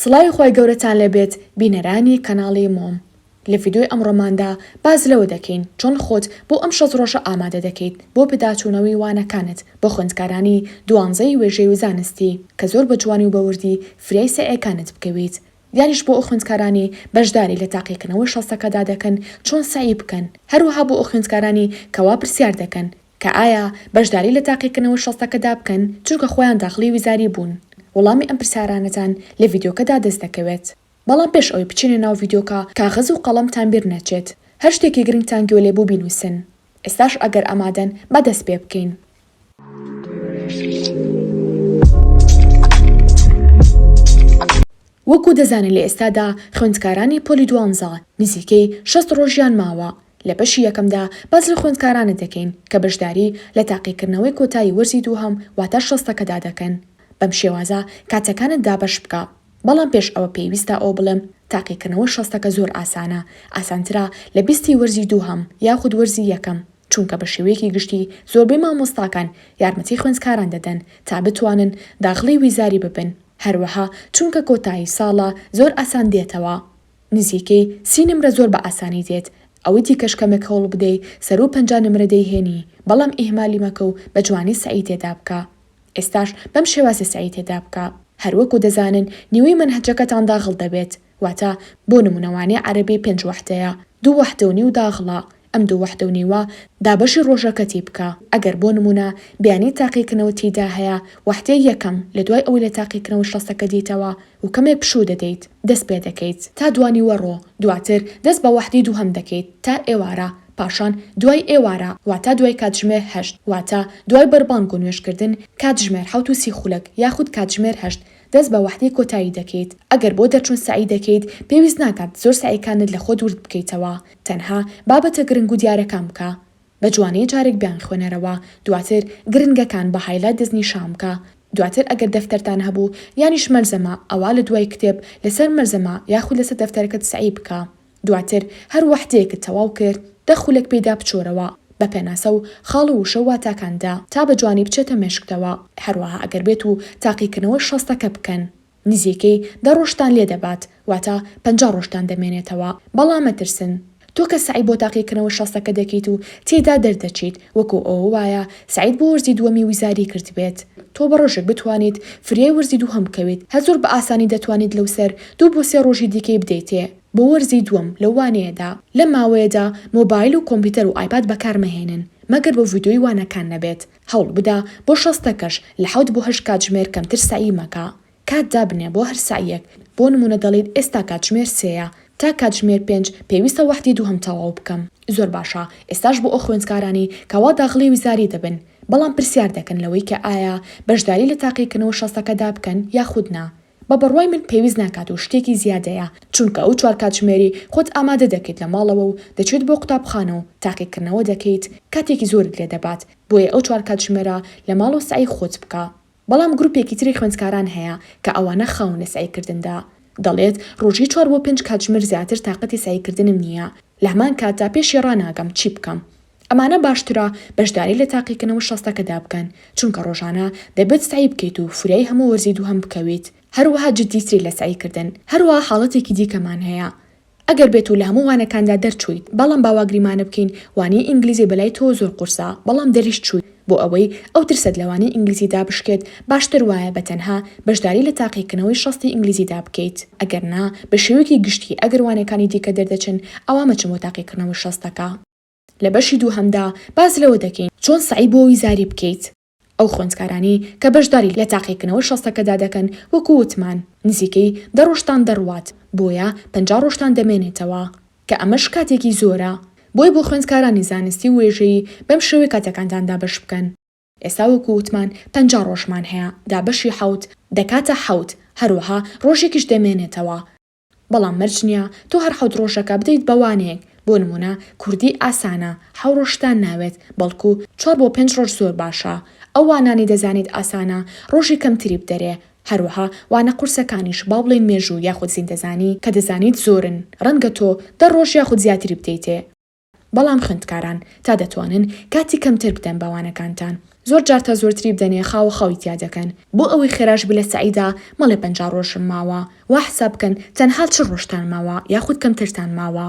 سڵاوی خوای گەورەتان لێبێت بینەرانی کەناڵی مۆم لە ڤیدۆی ئەمڕۆماندا باس لەوە دەکەین چۆن خۆت بۆ ئەم شەست ڕۆژە ئامادە دەکەیت بۆ پداچوونەوەی وانەکانت بۆ خوێندکارانی دوانزەی وێژەی و زانستی کە زۆر بە جوانی و بە وردی فریای سەعیەکانت بکەویت دیاریش بۆ ئەو خوێندکارانی بەشداری لە تاقیکردنەوەی شەستەکەدا دەکەن چۆن سەعی بکەن هەروەها بۆ ئەو خوێندکارانی کەوا پرسیار دەکەن کە ئایا بەشداری لە تاقیکردنەوە شەستەکەدا بکەن چونکە خۆیان داخڵی ویزاری بوون؟ وڵامی ئەم پرسیارانەتان لە ڤیدیۆکەدا دەست دەکەوێت. بەڵام پێش ئەوەی بچینە ناو ڤیدیۆکە کاغەز و قەڵەمتان بیر نەچێت هەر شتێکی گرنگتان گوێ لێبوو بینووسن. ئێستاش ئەگەر ئامادەن با دەست پێ بکەین. وەکو دەزانین لە ئێستادا خوێندکارانی پۆلی دوانزە نزیکەی شەست ڕۆژیان ماوە، لە بەشی یەکەمدا باس لە خوێندکارانە دەکەین کە بەشداری لە تاقیکردنەوەی کۆتایی وەرزی دووهەم واتە شەستەکەدا دەکەن، بەم شێوازە کاتەکانت دابەش بکە، بەڵام پێش ئەوە پێویستە ئەوە بڵێم تاقیکردنەوەی شەستەکە زۆر ئاسانە، ئاسانترە لە بیستی وەرزی دووهەم یاخود وەرزی یەکەم، چونکە بە شێوەیەکی گشتی زۆربەی مامۆستاکان یارمەتی خوێندکاران دەدەن تا بتوانن داخڵی ویزاری ببن، هەروەها چونکە کۆتایی ساڵە زۆر ئاسان دێتەوە نزیکەی سی نمرە زۆر بە ئاسانی دێت ئەوەی دیکەش کەمێک هەوڵ بدەی سەروو پەنجا نمرە دەیهێنی بەڵام ئیهمالی مەکە و بە جوانی سەعی تێدا بکە ئێستاش بەم شێوازە سەعی تێدا بکە هەروەکو دەزانن نیوەی مەنهەجەکەتان داغڵ دەبێت واتە بۆ نمونە وانەی عەرەبی پێنج وەحدەیە دوو وەحدە و نیو داغڵە ئەم دوو وەحدە و نیوە دابەشی ڕۆژەکەتی بکە، ئەگەر بۆ نموونە بیانیی تاقیکردنەوە تییدا هەیە، وەحدەی یەکەم لە دوای ئەوەی لە تاقیکردنەوە شەستەکە دیتەوە و کەمێ پشوو دەدەیت، دەست پێ دەکەیت تا دوانیوەڕۆ، دواتر دەست بە وەحدەی دووهەم دەکەیت تا ئێوارە، پاشان دوای ئێوارە واتا دوای کاتژمێر هەشت، واتا دوای بەربانگ و نوێژکردن، کاتژمێر حەوت و سی خولەک یاخود کاتژمێر هەشت، دەست بە وەحدەی کۆتایی دەکەیت، ئەگەر بۆ دەرچوون سەعی دەکەیت، پێویست ناکات زۆر سەعیکانت لە خۆت ورد بکەیتەوە، تەنها بابەتە گرنگ و دیارەکان بکە بە جوانی جارێک بیانخوێنەرەوە دواتر گرنگەکان بە هایلایت دەستنیشان بکە دواتر ئەگەر دەفتەرتان هەبوو یانیش مەلزەمە ئەوا لە دوای کتێب لەسەر مەلزەمە یاخود لەسەر دەفتەرەکەت سەعی بکە دواتر هەر وەحدەیەکت تەواو کرد دە خولەک پێیدا بچۆرەوە بە پێناسە و خاڵ و وشە و واتاکاندا تا بە جوانی بچێتە مێشکتەوە هەروەها ئەگەر بێتوو تاقیکردنەوەی شەستەکە بکەن. نزیکەی دە ڕۆژتان لێ دەبات واتە پەنجا ڕۆژتان دەمێنێتەوە بەڵام مەترسن تۆ کە سەعی بۆ تاقیکردنەوە شەستەکە دەکەیت و تێیدا دەردەچیت وەکو ئەوە وایە سەعیت بۆ وەرزی دووەمی وزاری کردبێت تۆ بە ڕۆژێک بتوانیت فریای وەرزی دووهەم بکەویت هەر زۆر بە ئاسانی دەتوانیت لەوسەر دوو بۆ سێ ڕۆژی دیکەی بدەیتێ بۆ وەرزی دووەم لەو وانەیەدا. لەم ماوەیەدا مۆبایل و کۆمپیوتەر و ئایپاد بەکارمەهێنن مەگەر بۆ ڤیدیۆی وانەکان نەبێت هەوڵ بدە بۆ شەست دەقەش لە حەوت بۆ هەشت کاتژمێر کەمتر سەعی مەکە. کات دابنێ بۆ هەر سەعیەک، بۆ نموونە دەڵێیت ئێستا کاتژمێر سێیە، تا کاتژمێر پێنج پێویستە وەحدی دووهەم تەواو بکەم. زۆر باشە ئێستاش بۆ ئەو خوێندکارانەی کە وا داخڵی وزاری دەبن بەڵام پرسیار دەکەن لەوەی کە ئایا بەشداری لە تاقیکردنەوە شەستەکەدا بکەن یاخود نا، بە بڕوای من پێویست ناکات و شتێکی زیادەیە، چونکە ئەو چوار کاتژمێری خۆت ئامادە دەکەیت لە ماڵەوە و دەچێت بۆ قوتابخانە و تاقیکردنەوە دەکەیت کاتێکی زۆرت لێ دەبات، بۆیە ئەو چوار کاتژمێرە لە ماڵەوە سەعی خۆت بکە. بەڵام گروپێکی تری خوێندکاران هەیە کە ئەوانە خاون لە سەعی کردندا، دەڵێت ڕۆژی چوار بۆ پێنج کاتژمێر زیاتر تاقەتی سەعی کردنم نییە، لە هەمان کاتدا پێشی ڕاناگەم چی بکەم؟ ئەمانە باشترە بەشداری لە تاقیکردنەوە شەستەکەدا بکەن، چونکە ڕۆژانە دەبێت سەعی بکەیت و فریای هەموو وەرزی دووهەم بکەویت، هەروەها جددیتری لە سەعی کردن، هەروەها حاڵەتێکی دیکەمان هەیە ئەگەر بێت و لە هەموو وانەکاندا دەرچوویت، بەڵام با وا گریمانە بکەین وانەی ئینگلیزی بەلای تۆوە زۆر قورسە بەڵام دەریش چوویت، بۆ ئەوەی ئەو ترست لە وانەی ئینگلیزیدا بشکێت باشتر وایە بە تەنها بەشداری لە تاقیکردنەوەی شەستی ئینگلیزیدا بکەیت، ئەگەر نا بە شێوەیەکی گشتی ئەگەر وانەکانی دیکە دەردەچن ئەوا مەچن بۆ تاقیکردنەوەی شەستەکە. لە بەشی دووهەمدا باس لەوە دەکەین چۆن سەعی بۆ ویزاری بکەیت. ئەو خوێندکارانەی کە بەشداری لە تاقیکردنەوە شەستەکەدا دەکەن وەکو وتمان نزیکەی دە ڕۆژتان دەڕوات بۆیە پەنجا ڕۆژتان دەمێنێتەوە کە ئەمەش کاتێکی زۆرە بۆی بۆ خوێندکارانی زانستی و وێژەیی بەم شێوەی کاتەکانتان دابەش بکەن. ئێستا وەکو وتمان پەنجا ڕۆژمان هەیە دا بەشی حەوت دەکاتە حەوت هەروەها ڕۆژێکیش دەمێنێتەوە. بەڵام مەرج نییە تۆ هەر حەوت ڕۆژەکە بدەیت بە وانەیەک، بۆ نموونە کوردی ئاسانە حەو ڕۆژ شتان ناوێت، بەڵکو چوار بۆ پێنج ڕۆژ زۆر باشە، ئەو وانانەی دەزانیت ئاسانە ڕۆژی کەمتری بدەرێ، هەروەها وانە قورسەکانیش با بڵێین مێژوو یاخود زیندەزانی کە دەزانیت زۆرن ڕەنگە تۆ دە ڕۆژ یاخود زیاتری بدەیتێ. بەڵام خوێندکاران تا دەتوانن کاتی کەمتر بدەن بە وانەکانتان زۆر جار تا زۆرتری بدەنێ خاوە خاوی تیا دەکەن بۆ ئەوەی خێراش بلە سەعیدا مەڵێ پەنجا ڕۆژم ماوە وا حساب بکەن تەنها چل ڕۆژتان ماوە یاخود کەمترتان ماوە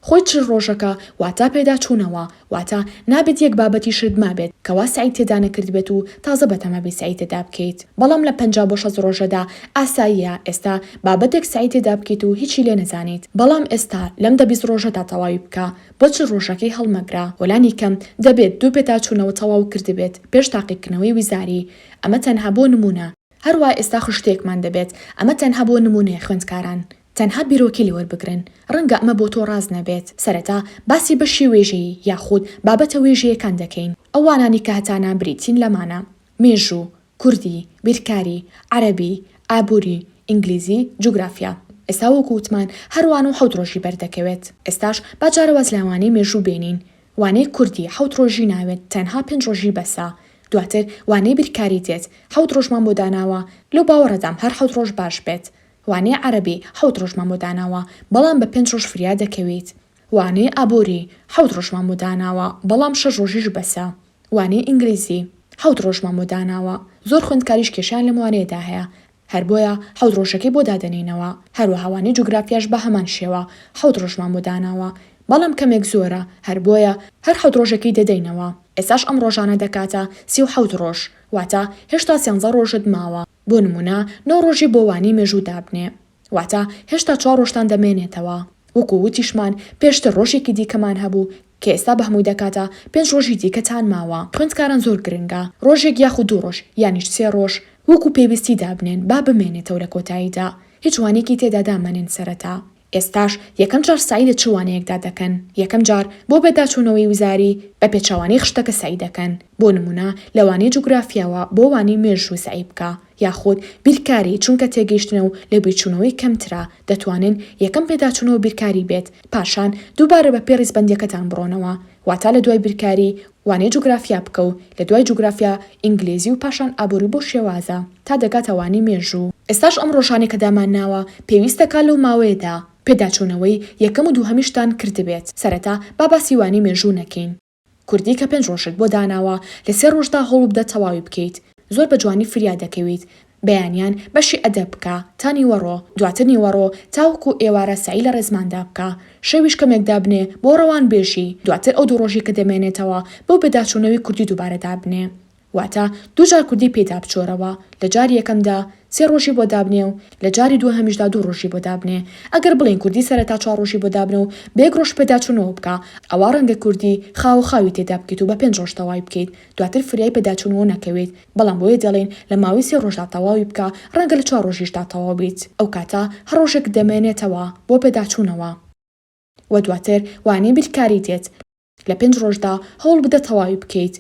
خۆی چل ڕۆژەکە واتا پێداچوونەوە واتا نابێت یەک بابەتیشت مابێت کەوا سەعی تێدا نەکردبێت و تازە بەتەمابی سەعی تێدا بکەیت بەڵام لە پەنجا بۆ شەست ڕۆژەدا ئاساییە ئێستا بابەتێک سەعی تێدا بکەیت و هیچی لێ نەزانیت بەڵام ئێستا لەم دە بیست ڕۆژەدا تەواوی بکە بۆ چل ڕۆژەکەی هەڵمەگرە وەلانی کەم دەبێت دوو پێداچوونەوە تەواو کردبێت پێش تاقیکردنەوەی ویزاری ئەمە تەنها بۆ نموونە هەروا ئێستا خشتەیەکمان دەبێت ئەمە تەنها بۆ نموونەیە خوێندکاران تەنها بیرۆکەی لێوەربگرن ڕەنگە ئەمە بۆ تۆ ڕاست نەبێت سەرەتا باسی بەشی وێژەیی یاخود بابەتە وێژەیەکان دەکەین ئەو وانانەی کە هەتانە بریتین لەمانە مێژوو، کوردی، بیرکاری، عەرەبی، ئابووری، ئینگلیزی، جوگرافیا. ئێستا وەکو وتمان هەر وانە و حەوت ڕۆژی بەردەکەوێت. ئێستاش با جارێ واز لە وانەی مێژوو بێنین. وانەی کوردی حەوت ڕۆژی ناوێت تەنها پێنج ڕۆژی بەسە. دواتر وانەی بیرکاری دێت حەوت ڕۆژمان بۆ داناوە لەو باوەڕەدام هەر حەوت ڕۆژ باش بێت. وانەی عەرەبی حەوت ڕۆژمان بۆ داناوە بەڵام بە پێنج ڕۆژ فریا دەکەویت. وانەی ئابووری، حەوت ڕۆژمان بۆ داناوە، بەڵام شەش ڕۆژیش بەسە. وانەی ئینگلیزی، حەوت ڕۆژمان بۆ داناوە، زۆر خوێندکاریش کێشەیان لەم وانەیەدا هەیە، هەر بۆیە حەوت ڕۆژەکەی بۆ دادەنێینەوە. هەروەها وانەی جوگرافیاش بە هەمان شێوە، حەوت ڕۆژمان بۆ داناوە، بەڵام کەمێک زۆرە، هەر بۆیە هەر حەوت ڕۆژەکەی دەدەینەوە. ئێستاش ئەم ڕۆژانە دەکاتە سی و حەوت ڕۆژ، واتە هێشتا سێنزە ڕۆژت ماوە. بۆ نموونە نۆ ڕۆژی بۆ وانەی مێژوو دابنێ. واتە هێشتا چوار ڕۆژتان دەمێنێتەوە، وەکو وتیشمان پێشتر ڕۆژێکی دیکەمان هەبوو کە ئێستا بەهەمووی دەکاتە پێنج ڕۆژی دیکەتان ماوە، خوێندکاران زۆر گرنگە ڕۆژێک یاخود دوو ڕۆژ یانیش سێ ڕۆژ وەکو پێویستی دابنێن با بمێنێتەوە لە کۆتاییدا هیچ وانەیەکی تێدا دامەنێن سەرەتا ئێستاش یەکەم جار سەعی لە چ وانەیەکدا دەکەن یەکەم جار بۆ بەداچوونەوەی وزاری بە پێچەوانەی خشتەکە سەعی دەکەن بۆ نموونە لە وانەی جوگرافیاوە بۆ وانەی مێژوو سەعی بکە یاخود بیرکاری چونکە تێگەیشتنە و لێبیرچوونەوەی کەمترە، دەتوانن یەکەم پێداچوونەوە بیرکاری بێت، پاشان دووبارە بەپێی ڕیزبەندیەکەتان بڕۆنەوە، واتا لە دوای بیرکاری وانەی جوگرافیا بکە و لە دوای جوگرافیا ئینگلیزی و پاشان ئابووری بۆ شێوازە تا دەگاتە وانەی مێژوو. ئێستاش ئەم ڕۆژانەی کە دامانناوە پێویست دەکات لەو ماوەیەدا پێداچوونەوەی یەکەم و دووهەمیشتان کردبێت، سەرەتا با باسی وانەی مێژوو نەکەین، کوردی کە پێنج ڕۆژت بۆ داناوە لە سێ ڕۆژدا هەوڵبدە تەواوی بکەیت زۆر بە جوانی فریا دەکەویت بەیانیان بەشی ئەدەب بکە تا نیوەڕۆ دواتر نیوەڕۆ تاوەکو ئێوارە سەعی لە ڕێزماندا بکە شەویش کەمێک دابنێ بۆ ڕەوانبێژی دواتر ئەو دوو ڕۆژی کە دەمێنێتەوە بۆ پێداچوونەوی کوردی دووبارە دابنێ واتە دوو جار کوردی پێیدا بچۆرەوە، لە جاری یەکەمدا سێ ڕۆژی بۆ دابنێ و لە جاری دووهەمیشدا دوو ڕۆژی بۆ دابنێ. ئەگەر بڵێین کوردی سەرەتا چوار ڕۆژی بۆ دابنە و بە یەک ڕۆژ پێداچوونەوە بکە، ئەوا ڕەنگە کوردی خاوە خاوی تێدا بکەیت و بە پێنج ڕۆژ تەوای بکەیت، دواتر فریای پێداچوونەوە نەکەوێت، بەڵام بۆیە دەڵێین لە ماوەی سێ ڕۆژدا تەواوی بکە، ڕەنگە لە چوار ڕۆژیشدا تەواو بیت. ئەو کاتە هەر ڕۆژێک دەمێنێتەوە بۆ پێداچوونەوە. و دواتر وانەی بیرکاری دێت لە پێنج ڕۆژدا هەوڵبدە تەواوی بکەیت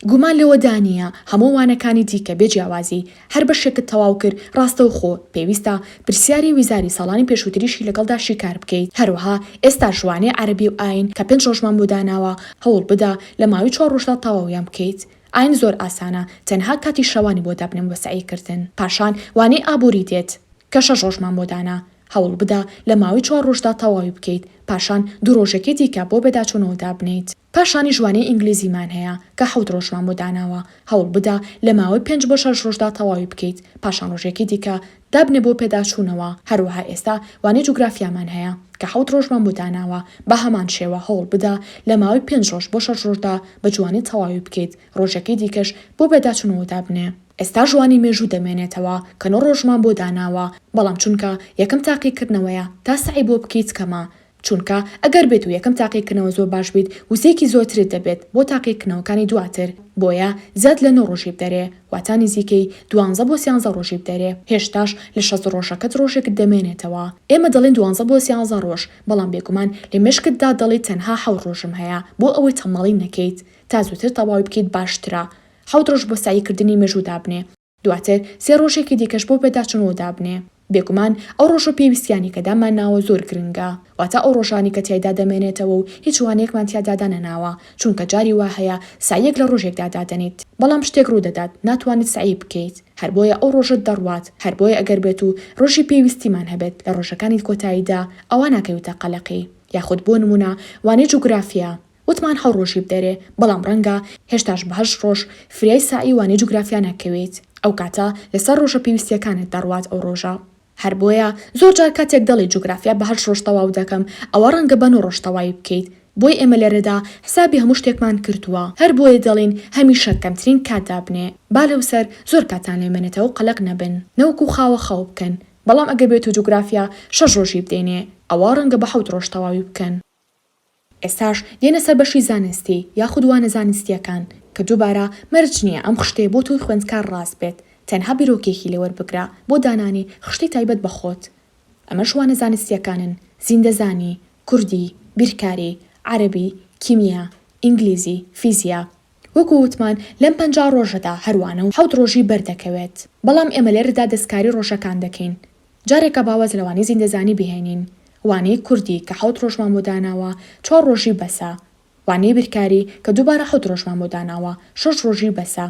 گومان لەوەدانییە هەموو وانەکانی دیکە بێ جیاوازی هەر بەشێکت تەواو کرد ڕاستەوخۆ پێویستە پرسیاری ویزاری ساڵانی پێشووتریشی لەگەڵدا شیکار بکەیت هەروەها ئێستاش وانەی عەرەبی و ئاین کە پێنج ڕۆژمان بۆ داناوە هەوڵبدە لە ماوەی چوار ڕۆژدا تەواویان بکەیت ئاین زۆر ئاسانە تەنها کاتی شەوانی بۆ دابنێم بۆ سەعی کردن پاشان وانەی ئابووری دێت کە شەش ڕۆژمان بۆ دانا هەوڵ بدە لە ماوەی چوار ڕۆژدا تەواوی بکەیت، پاشان دوو ڕۆژێکی دیکە بۆ بەداچوونەوە دابنێیت. پاشانیش وانەی ئینگلیزیمان هەیە کە حەوت ڕۆژمان بۆ داناوە، هەوڵ بدە لە ماوەی پێنج بۆ شەش ڕۆژدا تەواوی بکەیت، پاشان ڕۆژێکی دیکە دابنێ بۆ پێداچوونەوە، هەروەها ئێستا وانەی جوگرافیامان هەیە کە حەوت ڕۆژمان بۆ داناوە، بە هەمان شێوە هەوڵ بدە لە ماوەی پێنج ڕۆژ بۆ شەش ڕۆژدا بە جوانی تەواوی بکەیت، ڕۆژێکی دیکەش بۆ بەداچوونەوە دابنێ. ئێستا ژوانی مێژوو دەمێنێتەوە کە نۆ ڕۆژمان بۆ داناوە بەڵام چونکە یەکەم تاقیکردنەوەیە تا سەعی بۆ بکەیت کەمە چونکە ئەگەر بێت و یەکەم تاقیکردنەوە زۆر باش بیت وزەیەکی زۆرترت دەبێت بۆ تاقیکردنەوەکانی دواتر بۆیە زیاد لە نۆ ڕۆژی بدەرێ واتا نزیکەی دوانزە بۆ سیانزە ڕۆژی بدەرێ هێشتاش لە شەست ڕۆژەکەت ڕۆژێکت دەمێنێتەوە ئێمە دەڵێین دوانزە بۆ سیانزە ڕۆژ بەڵام بێگومان لە مێشکتدا دەڵێیت تەنها حەوت ڕۆژم هەیە بۆ ئەوەی تەماڵی نەکەیت تا زووتر تەواوی بکەیت باشترە حەوت ڕۆژ بۆ سەعی کردنی مێژوو دابنێ، دواتر سێ ڕۆژێکی دیکەش بۆ پێداچوونەوە دابنێ. بێگومان ئەو ڕۆژ و پێویستییانەی کە دامانناوە زۆر گرنگە، واتە ئەو ڕۆژانەی کە تیایدا دەمێنێتەوە و هیچ وانەیەکمان تیادا دانەناوە، چونکە جاری وا هەیە سەعییەک لە ڕۆژێکدا دادەنێیت، بەڵام شتێک ڕوو دەدات ناتوانیت سەعی بکەیت، هەر بۆیە ئەو ڕۆژەت دەڕوات، هەر بۆیە ئەگەر بێت و ڕۆژی پێویستیمان هەبێت لە ڕۆژەکانی کۆتاییدا، ئەوا ناکەویتە قەلەقی. یاخود بۆ نموونە وانەی جوگرافیا، وتمان حەو ڕۆژی بدەرێ بەڵام ڕەنگە هێشتاش بە هەشت ڕۆژ فریای سەعی وانەی جوگرافیا نەکەوێیت ئەو کاتە لەسەر ڕۆژە پێویستیەکانت دەڕوات ئەو ڕۆژە هەر بۆیە زۆر جار کاتێک دەڵێی جوگرافیا بە هەشت ڕۆژ تەواو دەکەم ئەوە ڕەنگە بە نۆ ڕۆژ تەوای بکەیت بۆی ئێمە لێرەدا حسابی هەموو شتێکمان کردووە هەر بۆیە دەڵێین هەمیشە کەمترین کات دابنێ با لەوسەر زۆر کاتان لێ مەنێتەوە قەلەق نەبن نەوەکو خاوە خەو بکەن بەڵام ئەگەر بێتو جوگرافیا شەش ڕۆژی بدەینێ ئەوە ڕەنگە بە حەوت ڕۆژ تەواوی بکەن. ئێستاش دێنە سەر بەشی زانستی یاخود وانە زانستیەکان کە دوبارە مەرج نیە ئەم خشتەیە بۆ تۆی خوێندکار ڕاست بێت تەنها بیرۆکەیەکی لێ وەربگرە بۆ دانانی خشتەی تایبەت بە خۆت ئەمەش وانە زانستیەکانن زیندەزانی کوردی بیرکاری عەرەبی کیمیا ئینگلیزی فیزیا وەکو وتمان لەم پەنجا ڕۆژەدا هەر وانە و حەوت ڕۆژی بەردەکەوێت بەڵام ئێمە لێرەدا دەستکاری ڕۆژەکان دەکەین جارێکە با واز لە وانەی زیندەزانی بهێنین، وانەی کوردی کە حەوت ڕۆژمان بۆ داناوە، چوار ڕۆژی بەسە. وانەی بیرکاری کە دووبارە حەوت ڕۆژمان بۆ داناوە، شەش ڕۆژی بەسە.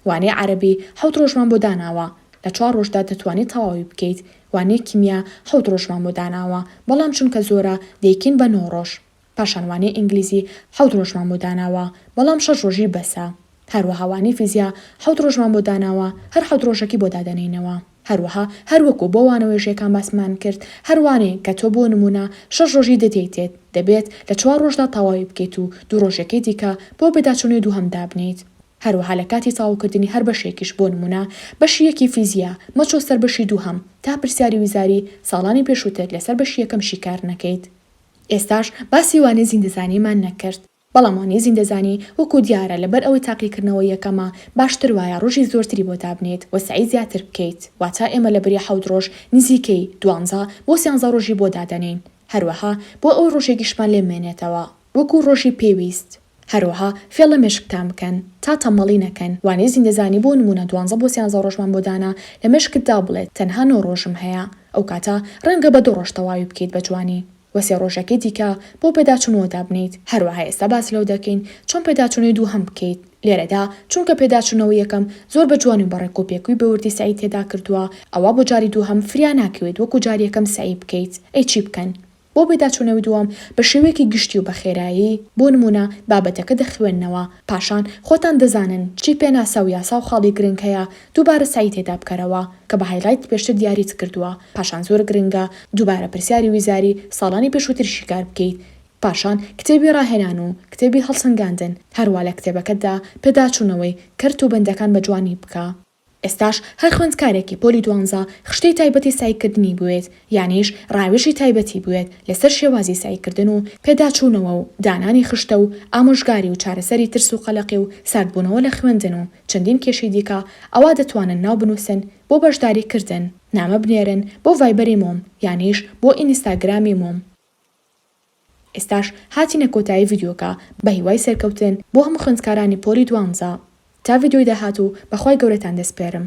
وانەی عەرەبی حەوت ڕۆژمان بۆ داناوە، لە چوار ڕۆژدا دەتوانیت تەواوی بکەیت. وانەی کیمیا حەوت ڕۆژمان بۆ داناوە، بەڵام چونکە زۆرە، دەیکەین بە نۆ ڕۆژ. پاشان وانەی ئینگلیزی حەوت ڕۆژمان بۆ داناوە، بەڵام شەش ڕۆژی بەسە. هەروەها وانەی فیزیا حەوت ڕۆژمان بۆ داناوە، هەر حەوت ڕۆژەکی بۆ دادەنێینەوە. هەروەها هەر وەکوو بۆ وانە وێژەیەکان باسمان کرد، هەر وانەیەک کە تۆ بۆ نموونە شەش ڕۆژی دەدەیتێت، دەبێت لە چوار ڕۆژدا تەواوی بکەیت و دوو ڕۆژەکەی دیکە بۆ پێداچوونەوەی دووهەم دابنێیت. هەروەها لە کاتی تەواوکردنی هەر بەشێکیش بۆ نموونە بەشی یەکی فیزیا، مەچۆ سەر بەشی دووهەم تا پرسیاری وزاری ساڵانی پێشووتر لەسەر بەشی یەکەم شیکار نەکەیت. ئێستاش باسی وانەی زیندەزانیمان نەکرد، بەڵام وانەی زیندەزانی وەکو دیارە لەبەر ئەوەی تاقیکردنەوە یەکەمە باشتر وایە ڕۆژی زۆرتری بۆ دابنێیت و سەعی زیاتر بکەیت، واتە ئێمە لەبری حەوت ڕۆژ نزیکەی دوانزە بۆ سیانزە ڕۆژی بۆ دادەنێین، هەروەها بۆ ئەوەی ڕۆژێکیشمان لێ بمێنێتەوە وەکو ڕۆژی پێویست. هەروەها فێڵ لە مێشکتان بکەن تا تەمەڵی نەکەن، وانەی زیندەزانی بۆ نموونە دوانزە بۆ سیانزە ڕۆژمان بۆ دانا لە مێشکتدا بڵێت تەنها نۆ ڕۆژم هەیە ئەو کاتە ڕەنگە بە دوو ڕۆژ تەواوی بکەیت بە جوانی و سێ ڕۆژەکەی دیکە بۆ پێداچوون بۆ دابنێیت، هەروەها ئێستا باس لەوە دەکەین چۆن پێداچوونەوەی دووهەم بکەیت لێرەدا چونکە پێداچوونەوەی یەکەم زۆر بە جوانی و بە ڕێک و پێکوی بە وردی سەعی تێدا کردووە ئەوا بۆ جاری دووهەم فریا ناکەوێت وەکو جاری یەکەم سەعی بکەیت ئەی چی بکەن؟ بۆ پێداچوونەوەی دووەم بە شێوەیەکی گشتی و بە خێرایی، بۆ نموونە، بابەتەکە دەخوێننەوە، پاشان خۆتان دەزانن چی پێناسە و یاسا و خاڵی گرنگ هەیە، دووبارە سەعی تێدا بکەرەوە، کە بە هایلایت پێشتر دیاریت کردووە، پاشان زۆر گرنگە دووبارە پرسیاری ویزاری ساڵانی پێشووتر شیکار بکەیت، پاشان کتێبی ڕاهێنان و کتێبی هەڵسەنگاندن، هەروا لە کتێبەکەتدا پێداچوونەوەی کەرت و بەندەکان بە جوانی بکە. ئێستاش هەر خوێندکارێکی پۆلی دوانزە خشتەی تایبەتی سەعیکردنی بوێت، یانیش ڕاوێژی تایبەتی بوێت لەسەر شێوازی سەعیکردن و پێداچوونەوە و دانانی خشتە و ئامۆژگاری و چارەسەری ترس و قەلەقی و ساردبوونەوە لە خوێندن و چەندین کێشەی دیکە ئەوا دەتوانن ناو بنووسن بۆ بەشداری کردن نامە بنێرن بۆ ڤایبەری مۆم یانیش بۆ ئینیستاگرامی مۆم. ئێستاش هاتینە کۆتایی ڤیدیۆکە بەهیوای سەرکەوتن بۆ هەموو خوێندکارانی پۆلی دوانزە تا ڤیدیۆی داهاتوو بەخوای گەورەتان دەسپێرم.